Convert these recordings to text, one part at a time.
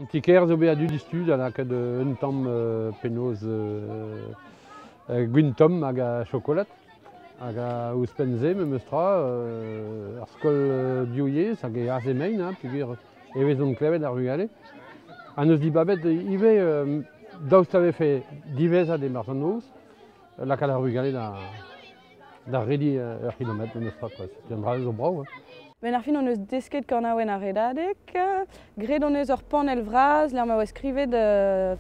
An ti-kêr zo bet a-du diouzhtu da lakaat un tamm penaos gwin-tomm hag a chokolad. Hag ouzhpenn-se, memes tra, ar skol div-yezh hag e ASMN, peogwir e vezont klevet ar vugale. Ha n'eus dibabet ivez daoust a vefe diwezhat e-barzh an noz lakaat ar vugale da D'ar redi ur c'hilometr memes tra quoi, setu un dra zo brav. Benn ar fin hon eus desket kanaouenn ar redadeg. Graet hon eus ur panell vras lec'h ma oa skrivet euh,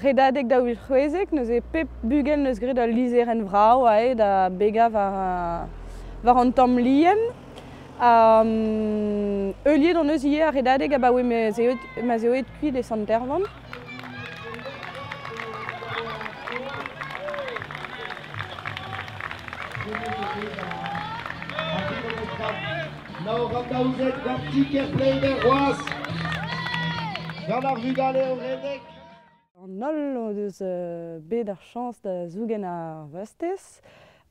redadeg daou vil c'hwezek. Neuze pep bugel neus graet ul lizherenn vrav aet da begañ war, war an tamm lien. Ha um, heuliet hon eus ivez ar redadeg abaoe ma ez eo, kuit e Sant-Ervlan. Naor an daouzek gant Tiker Pleider c'hoaz gant ar vugale o redek. An holl o deus euh, bet ar chañs da zougen ar vastez.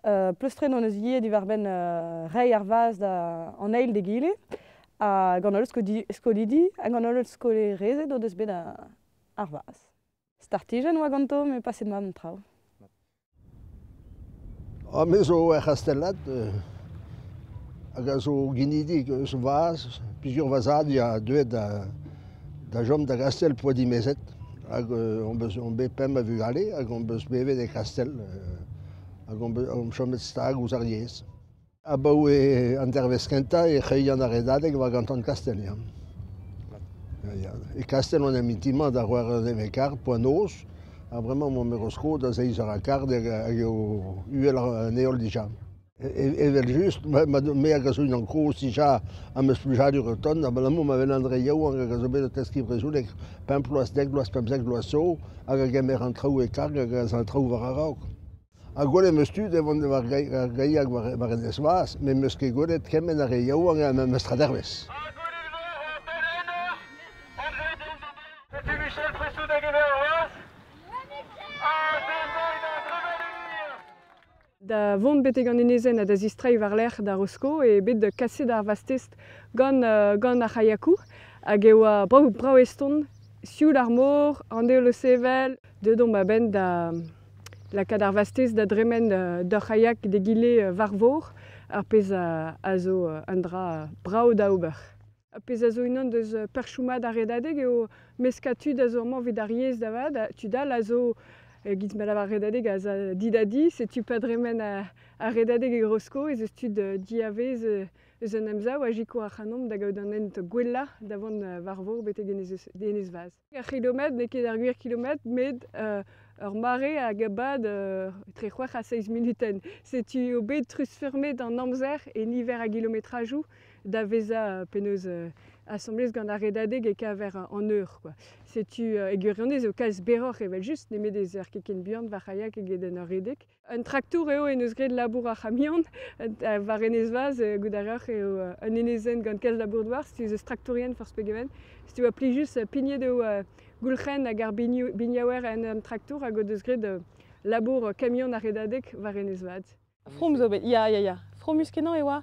Uh, pleustret hon eus ivez diwar-benn uh, reiñ ar vazh an eil d'egile. ha gant holl skolidi hag an holl skolerezed o deus bet ar vazh. Startijenn oa ganto met paset mat an traoù. Ha me zo er c'hastellad euh, hag a zo ginidik eus vazh. Plusieurs vazhadi a deuet da, da chom da Kastel poa dimezet. Hag euh, on bet pemp a vugale hag on beus bevet e Kastel euh, hag on chomet stag ouzh ar yezh. Abaoe an dervezh kentañ e c'heuilhan ar redadeg war ganton Kastell ya. E Kastell on en mintin-mañ da c'hwec'h eur nevez quart poa noz ha bremañ mon mero skod da seizh eur ha quart hag eo uhel an heol dija. Evel-just me hag a zo unan kozh dija am eus plijadur o tont abalamour ma welan re yaouank hag a zo bet o teskiñ brezhoneg pemp bloaz, dek bloaz, pemp, sek bloaz zo hag a gemer an traoù e karg hag a za an traoù war a-raok. Ha gwelet 'm eus tud o vont war gaiak war enez vras met 'm eus ket gwelet kement a re yaouank ha mestr a dervez. Da vont betek an enezenn ha da zistreiñ war-lerc'h da Rosko eo bet kaset ar vastest gant, gant ar c'haiakoù hag e oa brav-brav eston, sioul ar mor, an heol o sevel, deuet omp a-benn da lakaat ar vastez da dremen d'ur c'haiak d'egile war vor, ar pezh a zo un dra brav da ober. Ar pezh a zo unan deus perchoù mat ar redadeg eo meskañ tud a zo amañ evit ar yezh da vat, tud all a zo evit ma lavar redadeg a za di da di, setu pa dremen ar redadeg e Grosko ez eus tud diavez eus an emsav a sikour ac'hanomp da gaout an hent gwellañ da vont war vor betek enez-vazh. Ar c'hilometr n'eo ket ar gwir kilometr, met ur mare hag a bad etre c'hwec'h ha seizh munutenn. Setu eo bet truzfurmet an amzer e niver a gilometrajoù da vezañ penaos asambles gant ar redadeg e-keñver an eur. Setu e gwirionez eo kalz berroc'h evel-just nemet ez eur ket ken buan va c'haiak eget en ur redek. Un traktour eo en deus graet labour ar c'hamion. War Enez Vaz, euh, goût a reoc'h, eo euh, un enezenn gant kalz labour-douar. Si eus eus traktourien forzh pegement. Si tu vois plijus euh, pignet eo goulc'hen hag ar biniaouer en un traktour hag o deus graet labour kamion ar redadeg war Enez Vad. From zo bet, ya, ya, ya. Fromus kenañ e oa.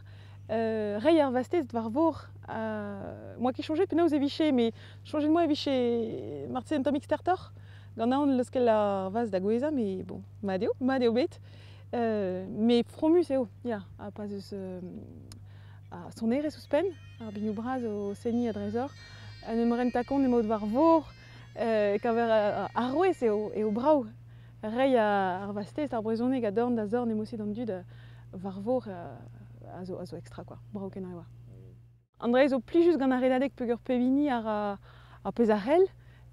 Euh, rei ar vastez war vor. Euh, moi qui changé, penaos e vije, mais changez-moi e vije Martin Tomix Tertor. Gant aon leuskel ar vazh da gouezhañ, met bon, mat eo, mat eo bet. met fromus eo, ya. Ha pa 'z eus ar sonerezh ouzhpenn, ar binioù bras o seniñ a-dreizoc'h, en em renta kont emaout war vor, e-keñver arouez eo brav reiñ ar vazh-test, ar brezhoneg a dorn da zorn emosi d'an dud war vor a zo extra, quoi, brav-kenañ e oa. An draezh zo plijus gant ar redadeg peogwir pep hini a ra ar pezh a c'hell.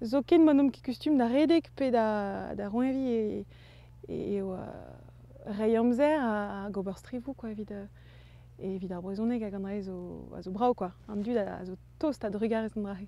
Zoken ma n'omp ket kustum da redek pe da, da roeñviñ eo reiñ amzer hag ober strivoù quoi, evit, evit ar brezhoneg hag an draezh a zo brav quoi. An dud a zo tost a-drugarez d'an dra-se.